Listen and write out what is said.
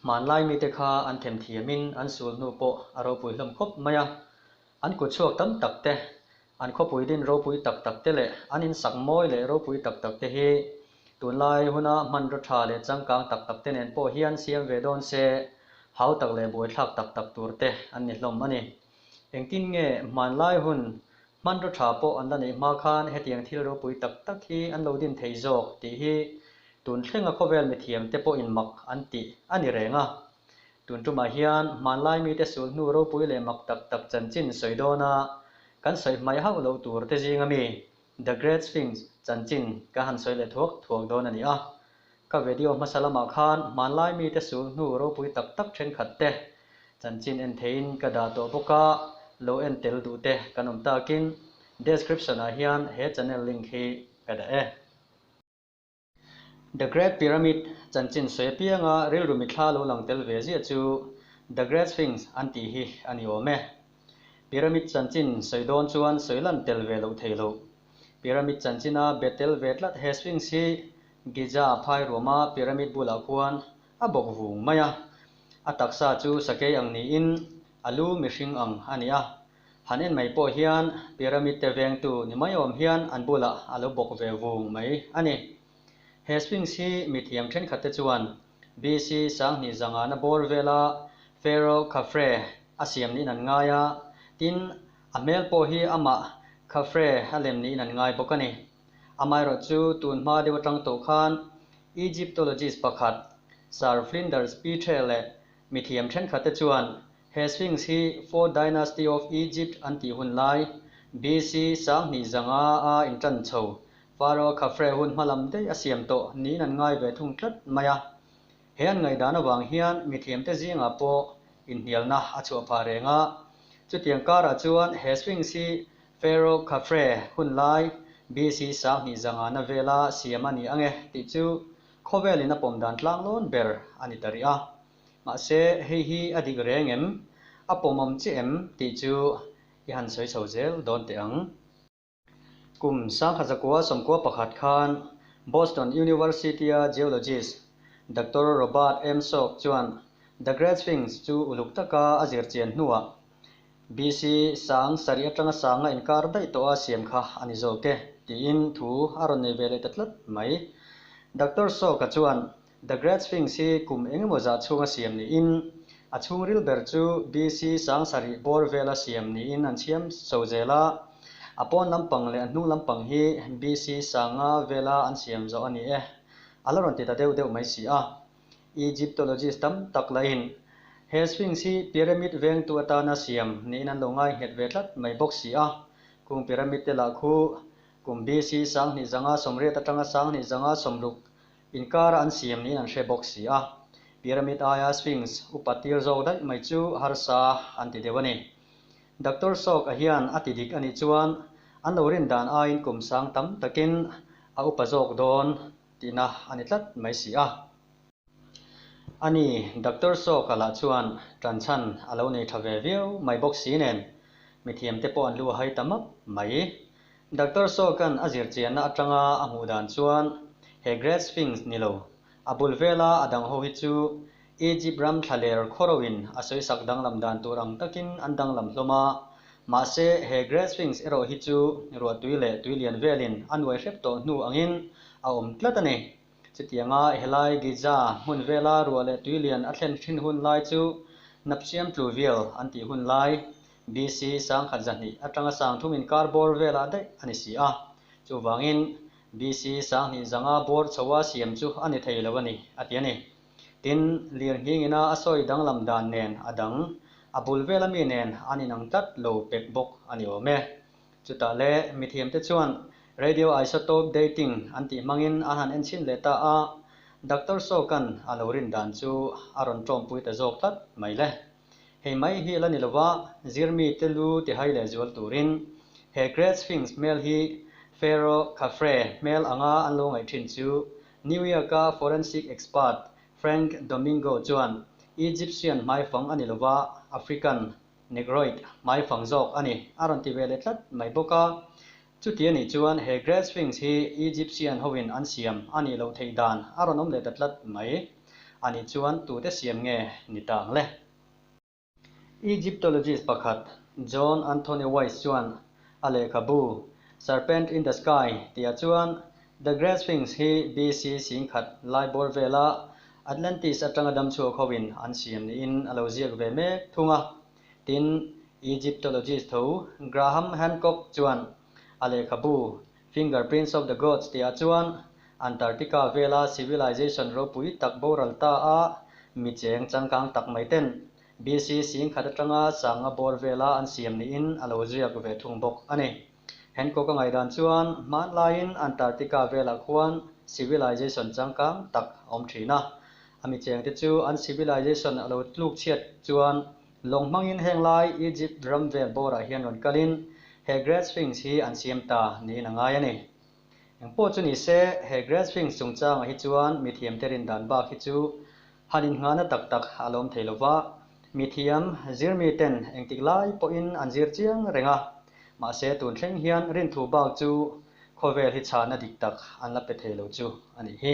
Hmanlai mite kha an themthiamin an sulhnu pawh a ropui hlawm khawp mai a. An kut chhuak tam tak te, an khawpui din ropui tak tak te leh an insak mawi leh ropui tak tak te hi tunlai huna hmanraw tha leh changkang tak tak te nen pawh hian siam ve dawn se hau tak leh buaithlak tak tak tur te an ni hlawm a ni. Engtin nge hmanlai hun hmanraw tha pawh an la neih hma khan hetiang thil ropui tak tak hi an lo din thei zawk tih hi tun thlenga khawvel mithiam te pawhin mak an tih a ni reng a. Tun tumah hian hmanlai mite sul hnu ropui leh mak tak tak chanchin sawi dawn a kan sawi hmai hauh lo tur te zing ami The Great Sphinx chanchin ka han sawi leh thuak thuak dawn a ni a. Ka vedio hmasa lamah khan hmanlai mite sul hnu ropui tak tak thenkhat te chanchin en theiin ka dah tawh bawk a, lo en tel duh te kan awm takin description-ah hian he channel link hi ka dah e. The Great Pyramid chanchin sawi apianga rilru mi thla lo lang tel ve ziah chu The Great Sphinx an tih hi a ni awm e. Pyramid chanchin sawi dawn chuan sawi lan tel ve loh thei lo. Pyramid chanchina be tel ve tlat he Sphinx hi Giza phairuama pyramid bulah khuan a bawk vung mai a. A taksa chu sakei ang niin a lu mihring ang a ni a. Han en mai pawh hian pyramid te vengtu ni mai awm hian an bulah a lo bawk ve vung mai a ni. He Sphinx hi mithiam thenkhat te chuan BC sanghnih zangahna bawr vela Pharaoh Khafre a siam niin an ngai a, tin, a hmel pawh hi amah Khafre a lem niin an ngai bawk a ni. Amaherawh chu tun hma deuh atang tawh khan Egyptologist pakhat, Sir Flinders Petrie leh mithiam thenkhat te chuan He Sphinx hi Fourth Dynasty of Egypt an tih hun lai, BC, sanghnih zanga a intan chho. Pharaoh Khafre hun hma lam daih a siam tawh niin an ngai ve thung tlat mai a. He an ngaihdan avang hian mithiamte zingah pawh inhnialna a chhuah phah reng a. Chutiang karah chuan he Sphinx hi Pharaoh Khafre hun lai, BC, sanghnih zangana vela siam a ni ang e tih chu khawvelin a pawm dan tlang lawn ber a ni ta rih a. Mahse, hei hi a dik reng em, a pawmawm che em tih chu i han sawi chho zel dawn teh ang. Kum sangkhat zakua sawmkua pakhat khan Boston University-a geologist Doctor Robert M. Salk chuan The Great Sphinx chu uluk taka a zir chian hnuah BC. sang sarih atanga sanga inkar daih tawha siam kha a ni zawk e tiin thu a rawn nei ve leh ta tlat mai. Doctor Salk-a chuan The Great Sphinx hi kum engemaw zah chhunga siam niin, a chhungril ber chu BC sang sarih bawr vela siam niin an chhiam chho zel a. A pawn lampang leh a hnung lampang hi BC sanga vela an siam zawh a ni e. A la rawn ti ta deuh deuh mai si a. Egyptologist tam tak lahin he Sphinx hi pyramid vengtu atana siam niin an lo ngaihnghet ve tlat mai bawk si a. Kung pyramid te lah khu kum BC sang hnih zanga sawmriat atanga sang hnih zanga sawmruk Inkara an siam niin an hre bawk si a, Pyramid aia Sphinx upa tir zawk daih mai chu harsa an ti deuh a ni. Doctor Sawka hian a ti dik a nih chuan an lo rin dan aiin kum sang tam takin a upa zawk dawn tihna a ni tlat mai si a. A ni, Doctor Sawka lah chuan tanchhan a lo nei tha ve viau mai bawk si nen mithiam te pawh an lu a hai ta map mai. Doctor Sorkin-a zirchianna atanga a hmuh dan chuan he Great Sphinx ni lo, a bul vela a dang ho hi chu Egypt ram thla ler khaw roin a sawisak danglam dan tur ang takin an danglam hlawm a. Mahse, he Great Sphinx erawh hi chu ruah tui leh tui lian velin a nuai hrep tawh hnu angin a awm tlat a ni. Chutianga helai Giza hmun vela ruah leh tui lian a thlen hrin hun lai chu Napchiam tlu vial an tih hun lai BC. Sangkhat zahnih atanga sang thum inkar bawr velah daih a ni si a, chuvangin BC. Sanghnih zanga bawr chho a siam chu a ni thei lo a ni a ti a ni. Tin, lirhningina a sawi danglam dan nen a dang, a bul vela mi nen an inang tlat lo pek bawk a ni awm e. Chutah le, mithiamte chuan radioisotope dating an tih hmangin an han en chhin leh ta a, Doctor Saw Kan a lo rin dan chu a rawn ṭawmpui ta zawk tlat mai le. Hei mai hi la ni lova, zirmi te lu ti hai leh zual turin he Great Sphinx hmel hi Pharaoh Khafre hmel anga an lo ngaih thin chu New York-a forensic expert Frank Domingo chuan Egyptian hmaifang a ni lova African, Negroid, hmaifang zawk a ni a rawn ti ve leh tlat mai bawk a, Chuti a nih chuan he Great Sphinx hi Egyptian hoin an siam a nih loh theih dan a rawn awm leh ta tlat mai. A nih chuan tute siam nge ni ta ang le? Egyptologist pakhat John Anthony Weiss chuan a lehkhabu Serpent in the Sky tihah chuan The Great Sphinx hi BC sing khat lai bawr vela Atlantis atanga dam chhuak hoin an siam niin a lo ziak ve mek thung a, Tin, Egyptologist tho Graham Hancock chuan a lehkhabu Fingerprints of the Gods tihah chuan Antarctica vela civilization ropui tak boral ta a mi cheng changkang tak mai ten BC singkhat atanga sanga bawr vela an siam niin a lo ziak ve thung bawk a ni. Hancock-a ngaidan chuan hmanlaiin Antarctica velah khuan civilization changkang tak a awm thin a. A michengte chu an civilization a lo tluk chhiat chuan lawng hmangin henglai Egypt ram vel bawrah hian rawn kalin he Great Sphinx hi an siam ta niin a ngai a ni. Engpawh chu ni se, he Grass Wings chungchangah hi chuan mithiamte rindan bak hi chu han innghahna tak tak a lawm thei lo va, mithiam zir miten engtik lai pawhin an zir chiang reng a, mahse tun thleng hian rinthu bak chu khawvel hi chhana dik tak an la pe thei lo chu a nih hi.